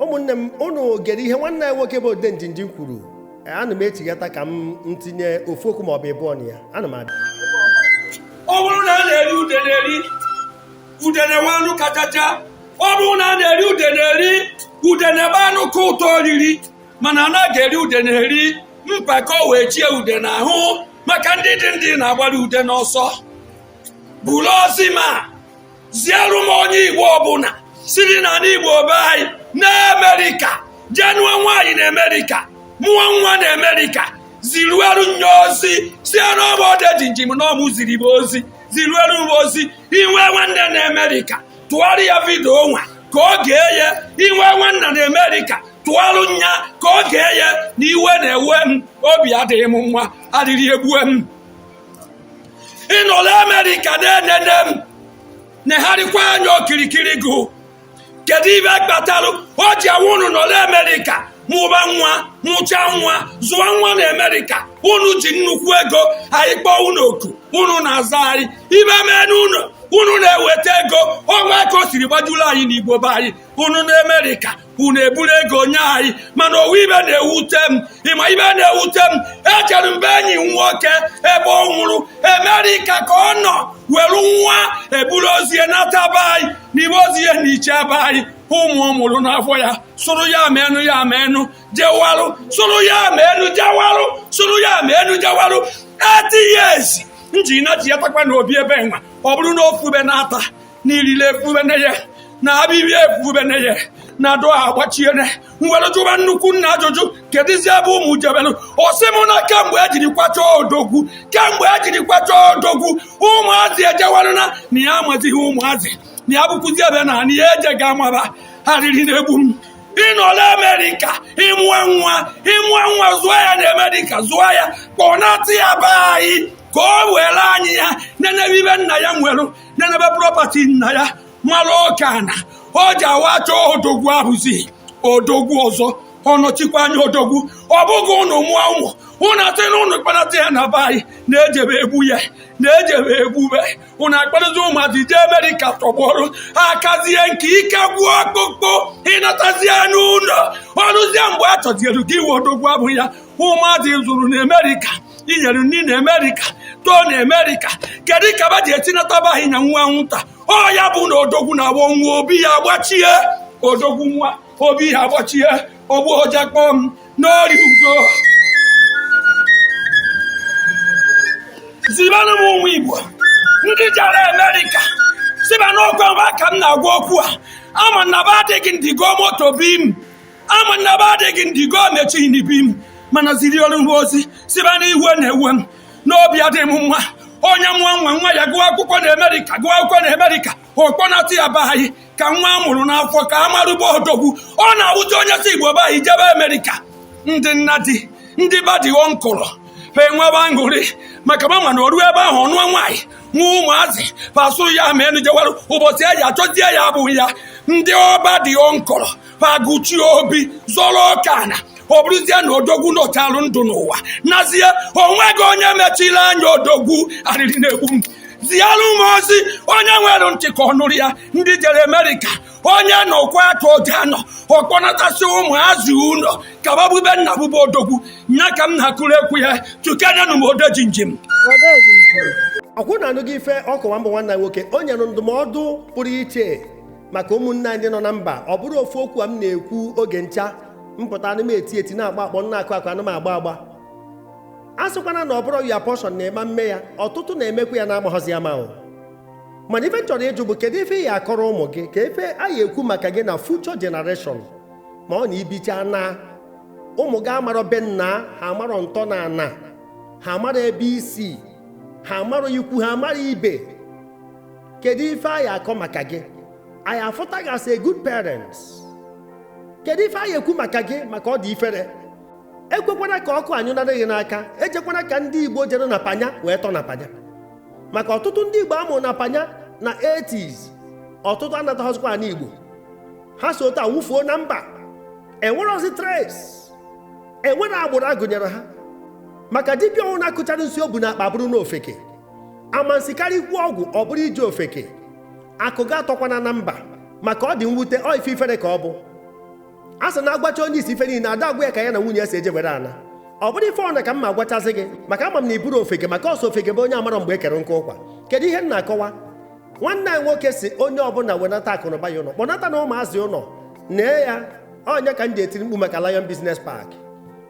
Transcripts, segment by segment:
ụmụnne m unu gere ihe nwanne anyị nwoke bụ odejimjim kwuru ana m echighata ka m ntinye ofu okwu maọbụ ịbụọ na ya ana m abịa ọ bụrụ na a na-eri udene eri udene nwe anụ kachacha ọ bụrụ na a na-eri udene eri udene bụ anụ ka ụtọ oriri mana a naghị eri udene eri mpako wee chie udene ahụ maka ndị dị ndị na-agbara udene ọsọ buru ozi ma ziere m onye igbo ọbụla siri na n'igbo be anyị na amerịka jee nụọ nwaanyị na amerịka mụọ nwa na amerịka ziruelu nye ozi sị na ọ bụ odejimjim na ọ mụ ziri m ozi ziruelu m ozi i nwee nwanne na amerịka tụgharị ya vidio nwa ka o gee ya i nwee nwanna na amerịka tụgharụ nya ka o gee ya na iwe na-ewe m obi adịghị m mma arịrị egbue m ị nọla amerịka na-enene m negharịkwa anya okirikiri gụ kedu ibe kpatalụ o ji awụ unu nọla amerịka mụba nwa mụcha nwa zụwa nwa na amerịka unu ji nnukwu ego anyị kpọọ unu oku unu na-aza anyị ibe mee n'ụlọ unu na-eweta ego ọnwa ka o siri gbajuru anyị n'igbo be anyị unu na amerịka unu eburu ego nye anyị mana o nwe ibe na-ewute m ị ma ibe na-ewute m ejere m be enyi m nwoke ebe ọ nwụrụ emerika ka ọ nọ were nwa e buru ozu ya nata be anyị nibe ozu ya na iche be anyị ụmụ ọ mụrụ n'afọ ya sụrụ yeah men yeah men jewarụ sụrụ yeah men jewarụ sụrụ yeah men jewarụ eight years nji na ji ya takwa n'obi ebe nwa ọ bụrụ na o fubene ata niile efubene ya na abịbịa efubene ya na dụ agbachiene m were jụba nnukwu nna ajụjụ kedụzi ebe ụmụ jebelu ọ sị m na kemgbe ejiri kwacha odogwu kemgbe ejiri kwacha odogwu ụmụazị ejewarụ na ya amazighị ụmụazị na ya bụkwụzi ebe na na ya eje ga amaba arịrị na-egbu m ị nọla amerịka ị mụọ nwa ị mụọ nwa zụọ ya na amerịka zụọ ya kpọnata ya be anyị ka o were anya ya nenebe ibe nna ya nwere nenebe prọpati nna ya mara oke ana o ji awụ a chọọ odogwu a hụzi odogwu ọzọ ọ nọchikwa anya odogwu ọ bụghị unu mụọ ụmụ unu asị na unu kpọnata ya na be anyị na-ejebe egbu ya na-ejebe egbube unu akpọrọzi ụmụazị jee amerịka tọgbọrụ a kazie nka ike gwụọ ọkpụkpụ ị natazie n'ụlọ o ruzie mgbe a chọziere gị iwe odogwu abụ ya ụmụazị ị zụrụ na Amerịka i nyere nri na Amerịka too na Amerịka kedu ka ba ji etinata be anyị nya nwa nwụta ọ ya bụ na odogwu na-agba nwa obi ya agbachie odogwu nwụa obi ya agbachie ogbu ọja kpọm n'ọrịa udo zibanụ m ụmụ Igbo ndị jara Amerịka sị ba n'ọkwa ba ka m na-agwa okwu a ama na ba adịghị ndị ga-emeto obi m ama na ba adịghị ndị ga-emechi n'ibi m mana ziarụ m ozi sị ba na iwe na-ewe m na obi adịghị m mma onye mụọ nwa nwa ya gụọ akwụkwọ na Amerịka gụọ akwụkwọ na Amerịka ọ kpọnata ya be anyị ka nwa a mụrụ n'afọ ka a marụ be odogwu ọ na-awụzi onye si Igbo be anyị jebe Amerịka ndị nna di ndị ba dị ọnkụrụ ha enwebe aṅụrị maka ma mana o ruo ebe ahụ ọ nụọ nwaanyị mụa ụmụazị pasụ ya ma enu jewarụ ụbọchị e ji achọzie ya abụghị ya ndị ọba dị ọnkụrụ paguchi obi zọrọ ọka na ọ bụrụzie na odogwu nọchalụ ndụ n'ụwa nazie o nweghị onye mechiri anya odogwu arịrị na-egbu m zialụ m ozi onye nwere ntị ka ọ nụrụ ya ndị jere amerịka onye nọkwa aka oge anọ ọ kpọnatasị ụmụazị ụlọ ka ba bu be nna bu be odogwu nya ka m na-akụrụ ekwu ya tukenenụ m odejimjim ọkwa ụnụ anụgo ife ọ kọwa mbụ nwanne anyị nwoke o nyere ndụmọdụ pụrụ iche maka ụmụnne anyị nọ na mba ọ bụrụ ofu okwu a m na-ekwu oge ncha m pụta anụ m eti eti na-agba akpọ m na-akụ akụ anụ m agba agba a sịkwana na ọ bụrọ your portion na ị ma mme ya ọtụtụ na-emekwa ya na-amaghọzi ama o mana ife m chọrọ ịjụ bụ kedu ife ị ya akọrọ ụmụ gị ka ife a ya ekwu maka gị na future generation ma ọ na i bicha naa ụmụ gị amarọ be nna ha amarọ ntọnana ha amarọ ebe i si ha amarọ ikwu ha amarọ ibe kedu ife a ya akọ maka gị a ya afụta gị as a good parents kedu ife a ya ekwu maka gị maka ọ dị ifere ekwekwana ka ọkụ anyụnara gị n'aka ejekwana ka ndị igbo jere na panya wee tọ na panya maka ọtụtụ ndị igbo a mụrụ na panya na 80s ọtụtụ anataghọzikwa ani igbo ha si otu a nwụfuo na mba enwerọzi trace enwerọ agbụrụ a gụnyere ha maka dibịa ọwụna akụchara nsi o bu na akpa bụrụ n'ofeke amansikarị ikwu ọgwụ ọ bụrụ ije ofeke akụ gị atọkwana na mba maka ọ dị mwute ọ ife ifere ka ọ bụ a sị na a gwacha onye isi ife niile ada agwa ya ka ya na nwunye ya si eje were ana ọ bụrọ ife ọna ka m ma agwachazi gị maka ama m na ị bụrọ ofeke maka ọ sọ ofeke bụ onye amarọ mgbe e kere nkụ ụkwa kedu ihe m na-akọwa nwanne anyị nwoke sị onye ọbụla wenata akụnụba ya ụlọ kpọnatanụ ụmụazị ụlọ nee ya onye ka m ji etiri mkpu maka Lion Business Park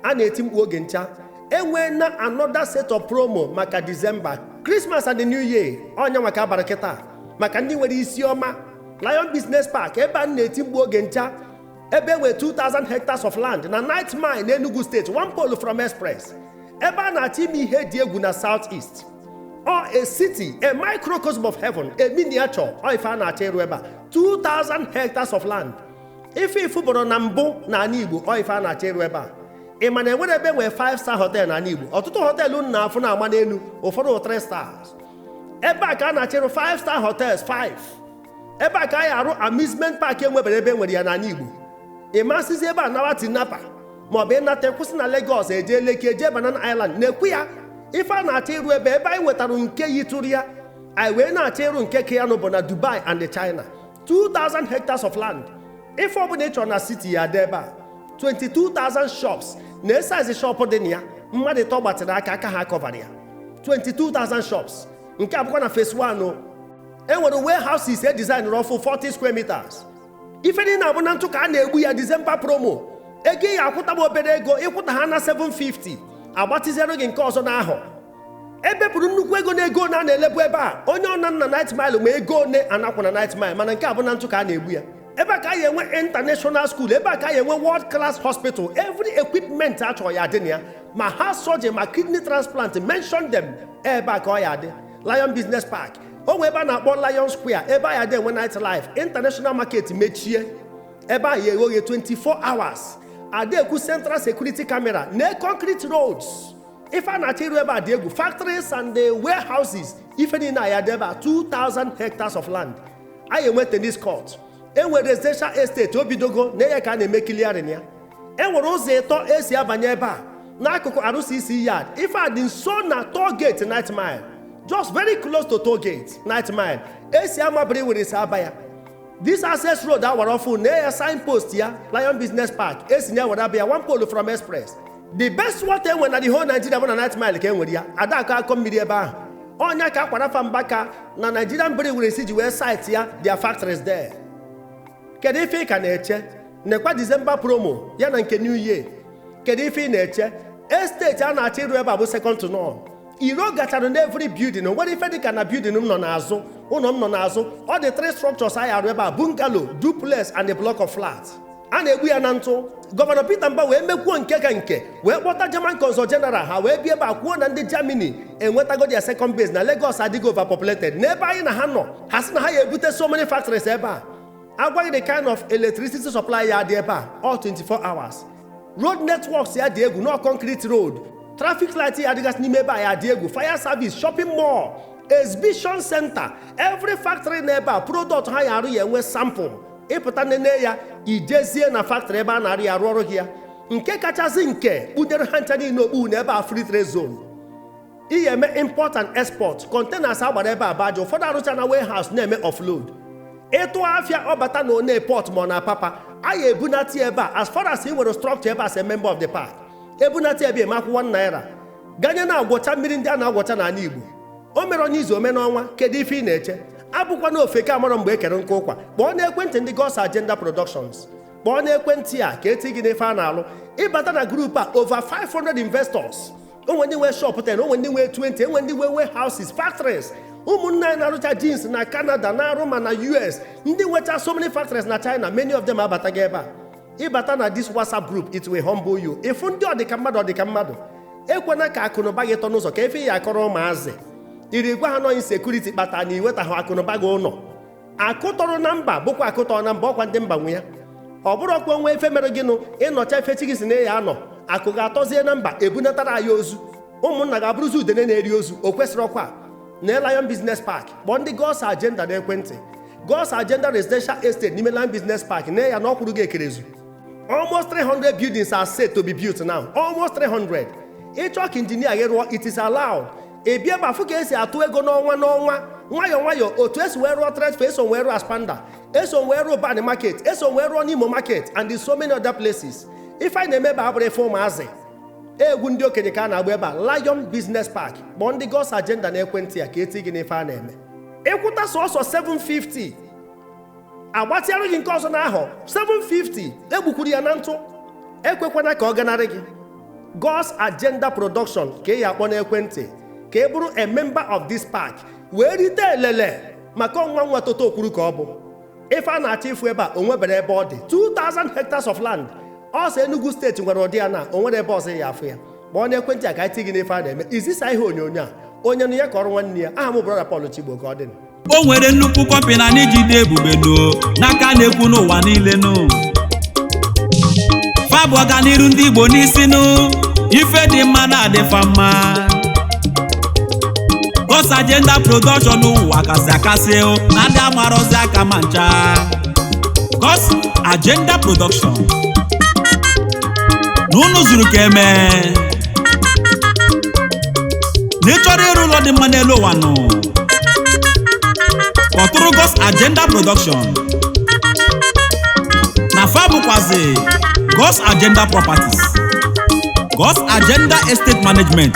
a na-eti mkpu oge ncha enwee na another set of promo maka December Christmas and the New Year ọ nya nwa ka abara kịta maka ndị nwere isi ọma Lion Business Park ebe a na-eti mkpu oge ncha ebe enwere 2000 hectares of land na Ninth Mile na Enugu State one pole from Express ebe a na-achọ ime ihe dị egwu na South East ọ a city a microcosm of heaven a miniature ọ ife a na-achọ ịrụ ebe a 2000 hectares of land ife ị fụbọrọ na mbụ na ana Igbo ọ ife a na-achọ ịrụ ebe a ị ma na enwere ebe nwee 5 star hotel n'ana Igbo ọtụtụ họteelụ unu na-afụ na-agba n'elu ụfọdụ 3 stars ebe a ka a na-achọ ịrụ 5 star hotels 5 ebe a ka a ya-arụ amusement park enwebere ebe nwere ya n'ana Igbo ị masịzi ebe a nawa Tinapa maọbụ ị nata kwụsị na Lagos eje Lekki eje Banana Island na-ekwu ya ife a na-achọ ịrụ ebe ebe anyị nwetara nke yitụrụ ya anyị wee na-achọ ịrụ nke ka ya nụ bụ na Dubai and China 2000 hectares of land ife ọbụna ị chọrọ na city ya-adị ebe a 22,000 shops na size shop dị na ya mmadụ ịtọ gbatịrị aka aka ha akọvara ya 22,000 shops nke a bụkwa na phase 1 o e nwere warehouses e designrị ọfụ 40 square meters ife niile a bụ na ntụ ka a na-egbu ya December promo ego ị ya-akwụta m obere ego ị kwụta ha na 750 agbatịziere gị nke ọzọ n'ahụ ebepụrụ nnukwu ego na ego one a na-elebu ebe a onye ọna nọ na Ninth Mile ma ego one a na-akwụ na Ninth Mile mana nke a bụ na ntụ ka a na-egbu ya ebe a ka anyị enwe international school ebe a ka anyị enwe world class hospital every equipment a chọrọ ya-adị na ya ma heart surgery ma kidney transplant mention them ebe a ka ọ ya-adị Lion Business Park o nwee ebe a na-akpọ Lion Square ebe a ya-adị enwe night life international market mechie ebe a ya-eghe oghe 24 hours ada ekwu central security camera na concrete roads ife a na-achọ ịrụ ebe a dị egwu factories and the warehouses ife niile a ya-adị ebe a 2000 hectares of land anyị enwe tennis court enwere residential estate obidogo na ya ka a na-eme clearing ya enwere ụzọ ịtọ esi abanye ebe a n'akụkụ RCC yard ife a dị nso na toll gate Ninth Mile just very close to toll gate Ninth Mile esi Ama Brewery esi aba ya this access road awara ọfụ na ya signpost ya Lion Business Park esi na ya were aba ya one pole from express the best water enwe na the whole Nigeria bụ na Ninth Mile ka e nwere ya ada akọ akọ mmiri ebe ahụ ọ nya ka Aqua Rapha Mbaka na Nigerian Breweries ji wee site ya their factories there kedu ife ị ka na-eche nekwa December promo ya na nke new year kedu ife ị na-eche estate a na-achọ ịrụ ebe a bụ second to none iro gachara na every building o nwere ife dịka na building m nọ n'azụ ụlọ m nọ n'azụ ọ the three structures a ya-arụ ebe a bungalow duplex and a block of flat a na-egbu ya na ntụ gọvanọ Peter Mba wee mekwuo nke ka nke wee kpọta German consul general ha wee bịa ebe a kwuo na ndị Germany enwetago their second base na Lagos adịgo overpopulated n'ebe anyị na ha nọ ha sị na ha ya ebute so many factories ebe a a gwa gị the kind of electricity supply ya adị ebe a all 24 hours road networks ya adị egwu no concrete road traffic light ya adịgasị n'ime ebe a ya adị egwu fire service shopping mall exhibition center every factory na ebe a product ha ya arụ ya enwe sample ịpụta nene ya ijezie na factory ebe a na-arụ ya arụọrụ gị ya nke kachasị nke kpunyere ha ncha niile okpu na ebe a free trade zone ị ya eme import and export containers agbara ebe a baja ụfọdụ arụcha na warehouse na-eme offload ịtụ afịa ọ bata na Onne port ma ọ na Apapa a ya ebunata ya ebe a as far as ị nwere structure ebe a as a member of the park ebunata ya ebe eme akwụkwọ na naira ganye na-agwọcha mmiri ndị a na-agwọcha n'ala Igbo o mere onye izu ome n'ọnwa kedu ife ị na-eche abụkwana ofeke amarọ mgbe e kere nkụ ụkwa kpọọ n'ekwentị ndị God's Agenda Productions kpọọ n'ekwentị a ka eti gị n'ife a na-alụ ịbata na group a over 500 investors o nwe ndị nwe shop 10 o nwe ndị nwe 20 e nwe ndị nwe warehouses factories ụmụnna anyị na-arụcha jeans na Canada na-arụ ma na US ndị nwecha so many factories na China many of them abatago ebe a ịbata na this whatsapp group it will humble you ịfụ ndị ọdịka mmadụ ọdịka mmadụ ekwena ka akụnụba gị tọ n'ụzọ ka ife ị ya akọrọ ụmụazị iri gwa ha na ọ insecurity kpata na iwetaghị akụnụba gị ụnọ akụ tọrọ na mba bụkwa akụ tọrọ na mba ọkwa ndị mba nwe ya ọ bụrụ ọkwa o nwe ife mere gịnụ ịnọcha ife chi gị sị na ị ya anọ akụ ga-atọzie na mba ebunatara anyị ozu ụmụnna ga-abụrụzi udene na-eri ozu o kwesịrị ọkwa na Lion Business Park kpọọ ndị God's Agenda n'ekwentị God's Agenda Residential Estate n'ime Lion Business Park na ya na ọkwụrụ gị ekerezu almost 300 buildings are set to be built now almost 300 ịchọ ka injinia gị rụọ it is allowed ị bịa ebe a fụ ka esi atụ ego n'ọnwa n'ọnwa nwayọọ nwayọọ otu esi wee rụọ Trade Fair esi wee rụọ Aspamda esi wee rụọ bani market esi wee rụọ n'imo market and in so many other places ife anyị na-eme ebe a abụrọ ife ụmụazị egwu ndị okenye ka a na-agba ebe a Lion Business Park kpọọ ndị God's Agenda na ekwentị a ka eti gị n'ife a na-eme ịkwụta sọsọ 750 agbatịarụ gị nke ọzọ n'ahọ 750 egbukwuru ya na ntụ ekwekwana ka ọ ganarị gị God's Agenda Production ka ị ya akpọ n'ekwentị ka ị bụrụ a member of this park wee rite elele maka ọnwa nwa toto okwuru ka ọ bụ ife a na-achọ ịfụ ebe a o nwebere ebe ọ dị 2000 hectares of land ọ sọ Enugu steeti nwere ụdị ya na o nwere ebe ọzọ ị ya afụ ya kpọọ n'ekwentị a ka anyị ti gị n'ife a na-eme izisa ihe onyonyo a onye nụ ya kọọrụ nwanne ya aha m brọda Paul Chigbo ka ọ dị o nwere nnukwu kọmpịnị anyị ji dị ebube nụ n'aka a na-ekwu n'ụwa niile nụ fa bu ọganiru ndị Igbo n'isi nụ ife dị mma na-adịfa mma God's Agenda Production ụwa kasị akasị o, na ndị amarọzi aka ma ncha God's Agenda Production na unu zuru ka eme na ị chọrọ ịrụ ụlọ dị mma n'elu ụwa nụ kpọtụrụ God's Agenda Production na fa bụkwazi God's Agenda Properties God's Agenda Estate Management